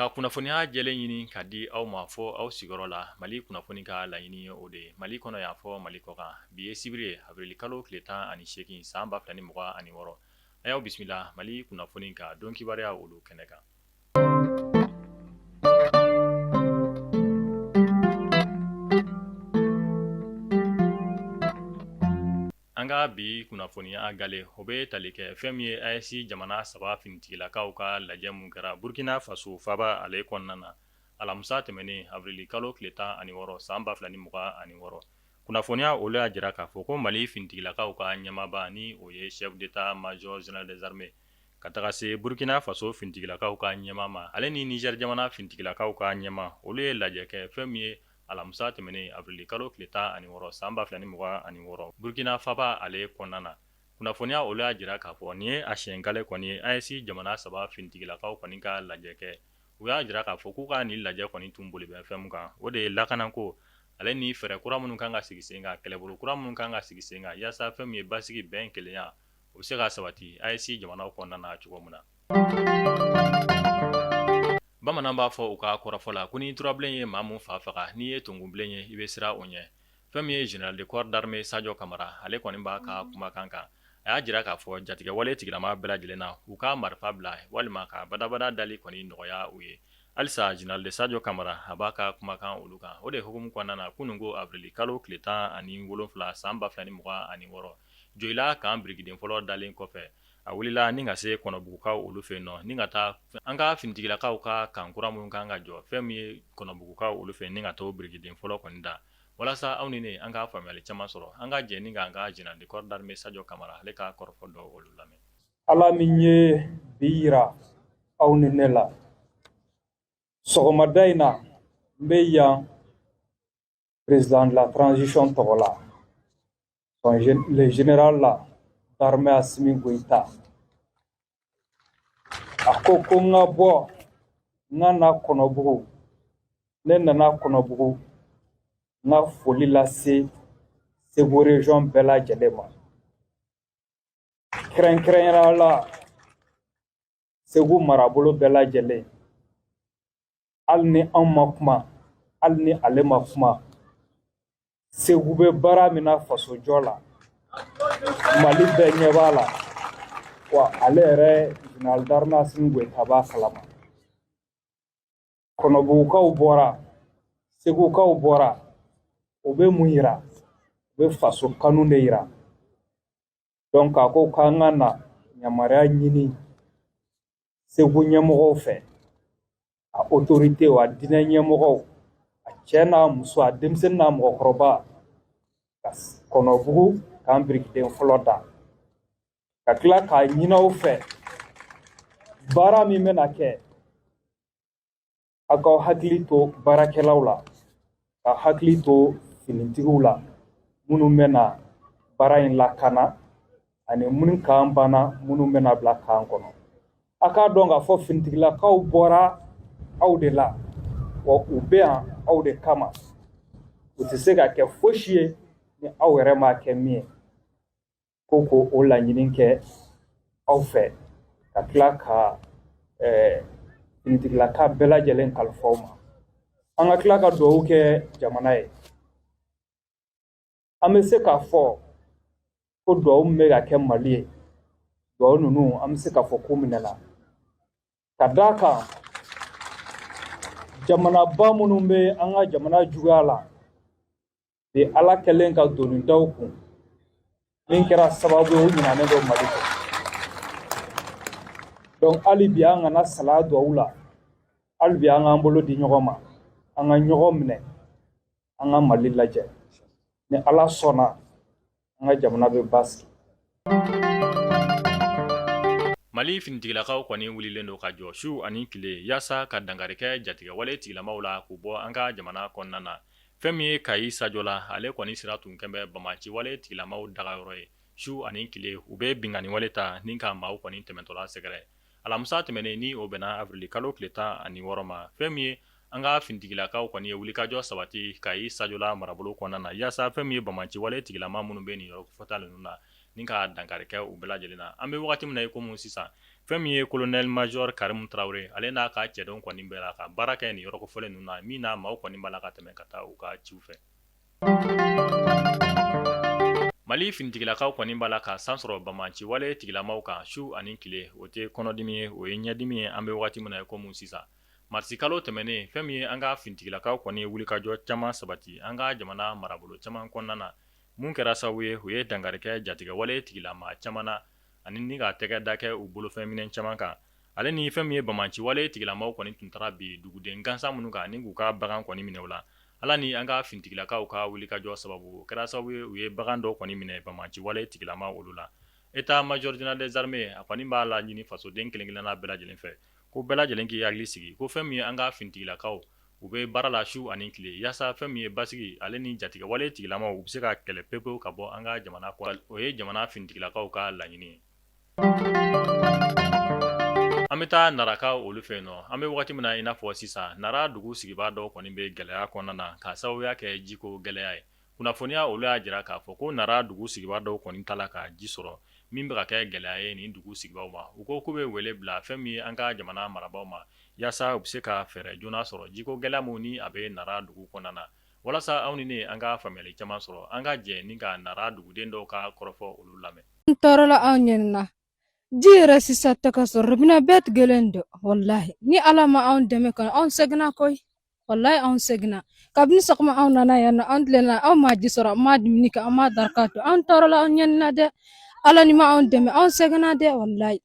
Ka kunnafoniya jɛlen ɲini ka di aw ma fɔ aw sigiyɔrɔ la mali kunnafoni ka laɲini ye o de ye mali kɔnɔ yan fɔ mali kɔkan bi ye sibiri ye avril kalo tile tan ani seegin san ba fila ni mugan ani wɔɔrɔ a y'aw bisimila mali kunnafoni ka don kibaruya olu kɛnɛ kan An ka bi kunnafoniya gale o bɛ tali kɛ fɛn min ye AES jamana saba finitigilakaw ka lajɛ min kɛra burukina faso faaba ale kɔnɔna na alamisa tɛmɛnen avril kalo tile tan ani wɔɔrɔ san ba fila ni mugan ani wɔɔrɔ kunnafoniya olu y'a jira k'a fɔ ko mali finitigilakaw ka ɲɛmaaba ni o ye chef d'état major général des armées ka taga se burukina faso finitigilakaw ka ɲɛmaa ma ale ni Niger jamana finitigilakaw ka ɲɛmaa olu ye lajɛ kɛ fɛn min ye alamisa tɛmɛnen avril kalo tile tan ani wɔɔrɔ san ba fila ni mugan ani wɔɔrɔ burukina faaba ale kɔnɔna na kunnafoniya olu y'a jira k'a fɔ nin ye a siɲɛ gale kɔni ye AES jamana saba finitigilakaw kɔni ka lajɛ kɛ u y'a jira k'a fɔ k'u ka nin lajɛ kɔni tun boli bɛ fɛn min kan o de ye lakanako ale ni fɛɛrɛ kura minnu kan ka sigi sen kan kɛlɛbolo kura minnu kan ka sigi sen kan yaasa fɛn min ye basigi bɛn kelenya o bɛ se ka sabati AES jamana kɔnɔna na cogo min na bamanan b'a fɔ u ka kɔrɔfɔ la ko ni turabilen ye maa min fa faga n'i ye tunkunbilen ye i bɛ siran o ɲɛ fɛn min ye général de corps d'armée sajɔ kamara ale kɔni b'a ka kumakan kan a y'a jira k'a fɔ jatigɛwale tigilamaa bɛɛ lajɛlen na u ka marifa bila walima ka badabada dali kɔni nɔgɔya u ye halisa général de sajɔ kamara a b'a ka kumakan olu kan o de hukumu kɔnɔna na kunun ko avril kalo tile tan ani wolofila san ba fila ni mugan ani wɔɔrɔ joyila kan birikiden fɔlɔ dalen kɔfɛ a wulila ni ka se kɔnɔbugukaw olu fɛ yen nɔ ni ka taa an ka finitigilakaw ka kan kura minnu kan ka jɔ fɛn min ye kɔnɔbugukaw olu fɛ ni ka taa birikiden fɔlɔ kɔni da walasa aw ni ne an ka faamuyali caman sɔrɔ an ka jɛ ni ka an ka général de corps d'armée sajɔ kamara ale ka kɔrɔfɔ dɔ olu lamɛn ala min ye bi yira aw ni ne la sɔgɔmada in na n bɛ yan président de la transition tɔgɔ la le général la d'armée Assimi Goïta a ko ko n ka bɔ n ka na Kɔnɔbugu ne nana Kɔnɔbugu n ka foli lase Segu région bɛɛ lajɛlen ma kɛrɛnkɛrɛnnenya la segu marabolo bɛɛ lajɛlen hali ni an ma kuma hali ni ale ma kuma segu bɛ baara min na fasojɔ la mali bɛɛ ɲɛ b'a la wa ale yɛrɛ général d'armée Assimi Goïta b'a kalama kɔnɔbugukaw bɔra segukaw bɔra o bɛ mun yira o bɛ faso kanu de yira donc a ko k'an ka na yamaruya ɲini segu ɲɛmɔgɔw fɛ a otoritew a diinɛ ɲɛmɔgɔw a cɛ n'a muso a denmisɛnnin n'a mɔgɔkɔrɔba ka kɔnɔbugu kan birikiden fɔlɔ da ka tila k'a ɲini aw fɛ baara min bɛna kɛ a k'aw hakili to baarakɛlaw la ka hakili to finitigiw la minnu bɛna baara in lakana ani minnu kan banna minnu bɛna bila kan kɔnɔ a k'a dɔn k'a fɔ finitigilakaw bɔra aw de la wa u bɛ yan aw de kama u tɛ se ka kɛ fosi ye ni aw yɛrɛ m'a kɛ min ye ko ko o laɲini kɛ aw fɛ ka tila ka finitigilaka bɛɛ lajɛlen kalifa aw ma an ka tila ka dugawu kɛ jamana ye an bɛ se k'a fɔ ko dugawu min bɛ ka kɛ mali ye dugawu ninnu an bɛ se k'a fɔ ko minɛna ka d'a kan jamanaba minnu bɛ an ka jamana juguya la bi ala kɛlen ka doni da u kun min kɛra sababu ye u ɲinanen don mali kɔ donc hali bi an kana salaya duwawu la hali bi an k'an bolo di ɲɔgɔn ma an ka ɲɔgɔn minɛ an ka mali lajɛ ni ala sɔnna an ka jamana bɛ basigi mali finitigilakaw kɔni wulilen don ka jɔ su ani tile yaasa ka dankari kɛ jatigɛwale tigilamaw la k'u bɔ an ka jamana kɔnɔna na fɛn min ye kayi sajola ale kɔni sira tun kɛlen bɛ banbaanciwale tigilamaw dagayɔrɔ ye su ani tile u bɛ binkanniwale ta ni ka maaw kɔni tɛmɛtɔla sɛgɛrɛ alamisa tɛmɛnen ni o bɛnna avril kalo tile 16 ma, fɛn min ye an ka finitigilakaw kɔni ye wulikajɔ sabati Kayi Sajola marabolo kɔnɔna na yaasa fɛn min ye banbaanciwale tigilama minnu bɛ nin yɔrɔ kofɔta ninnu na ni ka dankari kɛ u bɛɛ lajɛlen na, an bɛ wagati min na i komi sisan, fɛn min ye colonel major Karimu Tarawele ale n'a ka cɛdenw kɔni b'a la ka baara kɛ nin yɔrɔ kofɔlen ninnu na min na maaw kɔni b'a la ka tɛmɛ ka taa u ka ciw fɛ. Mali finitigilakaw kɔni b'a la ka san sɔrɔ banbaanciwale tigilamaw kan su ani tile o tɛ kɔnɔdimi ye o ye ɲɛdimi ye an bɛ wagati min na i komi sisan marisikalo tɛmɛnen fɛn min ye an ka finitigilakaw kɔni ye wulikajɔ caman sabati an ka jamana marabolo caman kɔnɔna na min kɛra sababu ye u ye dankari kɛ jatigɛwale tigilama caman na ani ni ka tɛgɛ da kɛ u bolofɛn minɛn caman kan ale ni fɛn min ye banbaanci wale tigilamaw kɔni tun taara bin duguden gansan minnu kan ni k'u ka bagan kɔni minɛ u la ala ni an ka finitigilakaw ka wulikajɔ sababu o kɛra sababu ye u ye bagan dɔ kɔni minɛ banbaanci wale tigilama olu la état major général des armées a kɔni b'a laɲini fasoden kelen-kelenna bɛɛ lajɛlen fɛ ko bɛɛ lajɛlen k'i hakili sigi ko fɛn min ye an ka finitigilakaw u bɛ baara la su ani tile yaasa fɛn min ye basigi ale ni jatigɛwale tigilamaw u bɛ se ka kɛlɛ pepewu ka bɔ an ka jamana o ye jamana finitigilakaw ka laɲini An bɛ taa naraka olu fɛ yen nɔ an bɛ wagati min na i n'a fɔ sisan nara dugu sigibaa dɔw kɔni bɛ gɛlɛya kɔnɔna na ka sababuya kɛ jiko gɛlɛya ye kunnafoniya olu y'a jira k'a fɔ ko nara dugu sigibaa dɔw kɔni t'a la ka ji sɔrɔ min bɛ ka kɛ gɛlɛya ye nin dugu sigibaaw ma u ko k'u bɛ wele bila fɛn min ye an ka jamana marabaaw ma yaasa u bɛ se ka fɛɛrɛ joona sɔrɔ jiko gɛlɛya min ni a bɛ nara dugu kɔnɔna na walasa aw ni ne an ka faamuyali caman sɔrɔ an ka jɛ ni ka nara duguden dɔw ka kɔrɔfɔ olu lamɛn an tɔɔrɔla anw ɲɛnina ji yɛrɛ sisan tɛ ka sɔrɔ robinɛ bɛɛ tigɛlen don walahi ni ala ma anw dɛmɛ kɔni anw sɛgɛnna koyi walahi anw sɛgɛnna kabini sɔgɔma anw nana yan nɔ anw tilenna anw ma ji sɔrɔ an ma dumuni kɛ an ma daraka dun anw tɔɔrɔla anw ɲɛnina dɛ ala ni ma anw dɛmɛ anw sɛgɛnna dɛ walahi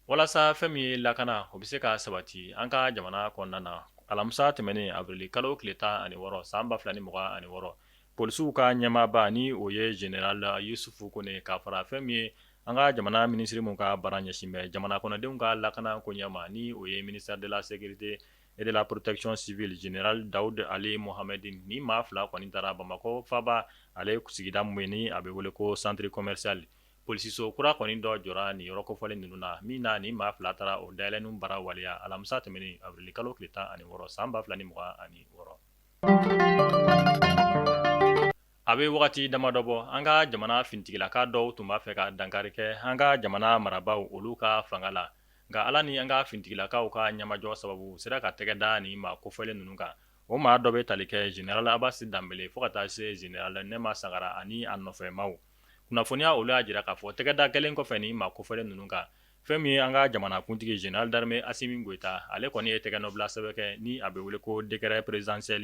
walasa fɛn min ye lakana o bɛ se ka sabati an ka jamana kɔnɔna na alamisa tɛmɛnen awirili kalo tile tan ani wɔɔrɔ san ba fila ni mugan ani wɔɔrɔ polisiw ka ɲɛmaaba ni o ye général yusufu kone ka fara fɛn min ye an ka jamana minisiri min ka baara ɲɛsin bɛ jamana kɔnɔdenw ka lakana koɲɛ ma ni o ye ministère de la sécurité et de la protection civile général daoud ali mohammedine nin maa fila kɔni taara bamakɔ faaba ale sigida min ye ni a bɛ wele ko centre commercial polisiso kura kɔni dɔ jɔra nin yɔrɔ kofɔlen ninnu na min na nin maa fila taara o dayɛlɛnni baara waleya alamisa tɛmɛnen awirili kalo tile tan ani wɔɔrɔ san ba fila ni mugan ani wɔɔrɔ a bɛ wagati damadɔ bɔ an ka jamana finitigilaka dɔw tun b'a fɛ ka dankari kɛ an ka jamana marabaaw olu ka fanga la nka ala ni an ka finitigilakaw ka ɲɛmajɔ sababu u sera ka tɛgɛ da nin maa kofɔlen ninnu kan o maa dɔ bɛ tali kɛ général abasi danbele fo ka taa se général nema sagara ani a nɔfɛmaaw kunnafoniya olu y'a jira k'a fɔ tɛgɛda kɛlen kɔfɛ nin maa kofɔlen ninnu kan fɛn min ye an ka jamanakuntigi général d'armée asimi goyita ale kɔni ye tɛgɛnɔbila sɛbɛn kɛ ni a bɛ wele ko décret présidentiel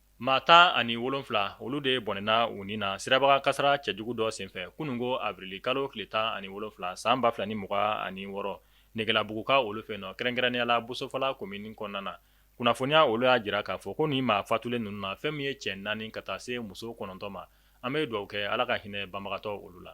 Maa tan ani wolonwula olu de bɔnɛna u ni na sirabakan kasara cɛjugu dɔ senfɛ kunun ko avril kalo tile tan ani wolonwula san ba fila ni mugan ani wɔɔrɔ Negelabuguka olu fɛ nɔ kɛrɛnkɛrɛnnenya la bosofala komini kɔnɔna na kunnafoniya olu y'a jira k'a fɔ ko nin maa fatulen ninnu na fɛn min ye cɛ naani ka taa se muso kɔnɔntɔn ma an bɛ dugawu kɛ ala ka hinɛ banbagatɔ olu la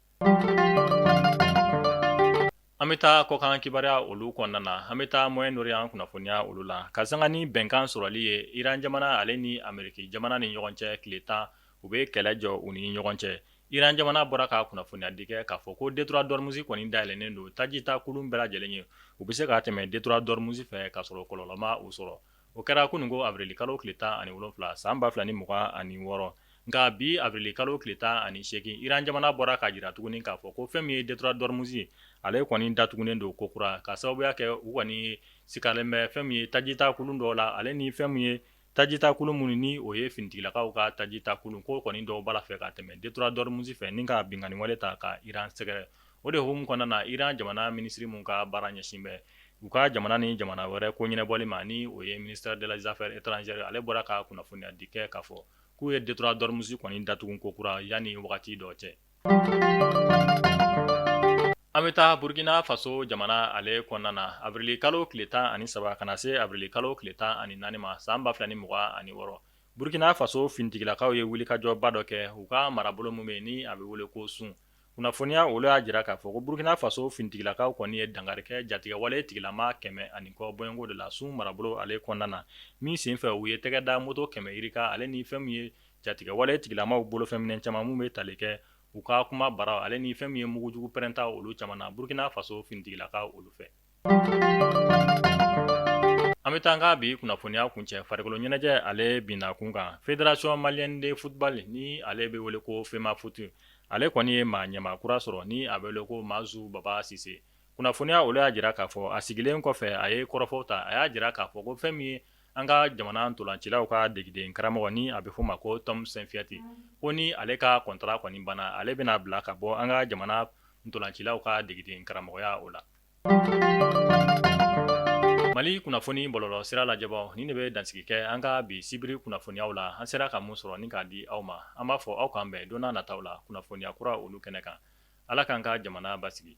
An bɛ taa kɔkan kibaruya olu kɔnɔna na an bɛ taa Moyen-Orient kunnafoniya olu la ka sanga ni bɛnkan sɔrɔli ye iran jamana ale ni Ameriki jamana ni ɲɔgɔn cɛ tile tan u bɛ kɛlɛ jɔ u ni ɲɔgɔn cɛ iran jamana bɔra ka kunnafoniya di kɛ k'a fɔ ko détroit d'Ormuz kɔni dayɛlɛnnen don tajita kulun bɛɛ lajɛlen ye u bɛ se ka tɛmɛ détroit d'Ormuz fɛ k'a sɔrɔ kɔlɔlɔ ma u sɔrɔ o kɛra kunun ko avril kalo tile tan ani wolonwula san ba fila ni mugan ani wɔɔrɔ nka bi avril kalo tile tan ani segin Iran jamana bɔra k'a jira tuguni k'a fɔ ko fɛn min ye détroit d'Ormuz ale kɔni datugunen don kokura ka sababuya kɛ u kɔni sikalen bɛ fɛn min ye tajita kulu dɔ la ale ni fɛn min ye tajita kulu minnu ni o ye finitigilakaw ka tajita kulu ko kɔni dɔw b'a fɛ ka tɛmɛ détroit d'Ormuz fɛ ni ka binkanni wale ta ka Iran sɛgɛrɛ O de hukumu kɔnɔna na Iran jamana minisiri min ka baara ɲɛsin bɛ u ka jamana ni jamana wɛrɛ ko ɲɛnabɔli ma ni o ye ministère de la des affaires étrangères ale bɔra ka kunnafoniya di kɛ k'a fɔ k'u ye détroit d'Ormuz kɔni datugu kokura yanni wagati dɔ cɛ. An bɛ taa Burkina Faso jamana ale kɔnɔna na avril kalo tile tan ani saba ka na se avril kalo tile tan ani naani ma san ba fila ni mugan ani wɔɔrɔ, Burkina Faso finitigilakaw ye wulikajɔba dɔ kɛ u ka marabolo min bɛ yen ni a bɛ wele ko Soum. kunnafoniya olu y'a jira k'a fɔ ko Burkina Faso finitigilakaw kɔni ye dankari kɛ jatigɛwale tigilama 100 ani kɔ bɔɲɔgɔnko de la Soum marabolo ale kɔnɔna na, min senfɛ u ye tɛgɛ da moto kɛmɛ yirika ale ni fɛn min ye jatigɛwale tigilamaw bolo fɛ minɛn caman minnu bɛ tali kɛ u ka kuma bara ale ni fɛn min ye mugujugu pɛrɛnta olu caman na Burkina Faso finitigilakaw olu fɛ. An bɛ taa an ka bi kunnafoniya kuncɛ farikolo ɲɛnajɛ ale binna kun kan Fédération Malienne de Football ni ale bɛ wele ko FEMAFOOT ale kɔni ye maa ɲɛmaa kura sɔrɔ ni a bɛ wele ko Mazu Baba Sise kunnafoniya olu y'a jira k'a fɔ a sigilen kɔfɛ a ye kɔrɔfɔw ta a y'a jira k'a fɔ ko fɛn min ye an ka jamana ntolancilaw ka degeden karamɔgɔ ni a bɛ f'a ma ko Tom Saintfiet ko ni ale ka kɔntara kɔni banna ale bɛn'a bila ka bɔ an ka jamana ntolancilaw ka degeden karamɔgɔya o la Mali kunnafoni bɔlɔlɔ sira lajɛbaw nin de bɛ dansigi kɛ an ka bi sibiri kunnafoniyaw la an sera ka mun sɔrɔ ni k'a di aw ma an b'a fɔ aw k'an bɛn don nataw la kunnafoniya kura olu kɛnɛ kan ala k'an ka jamana basigi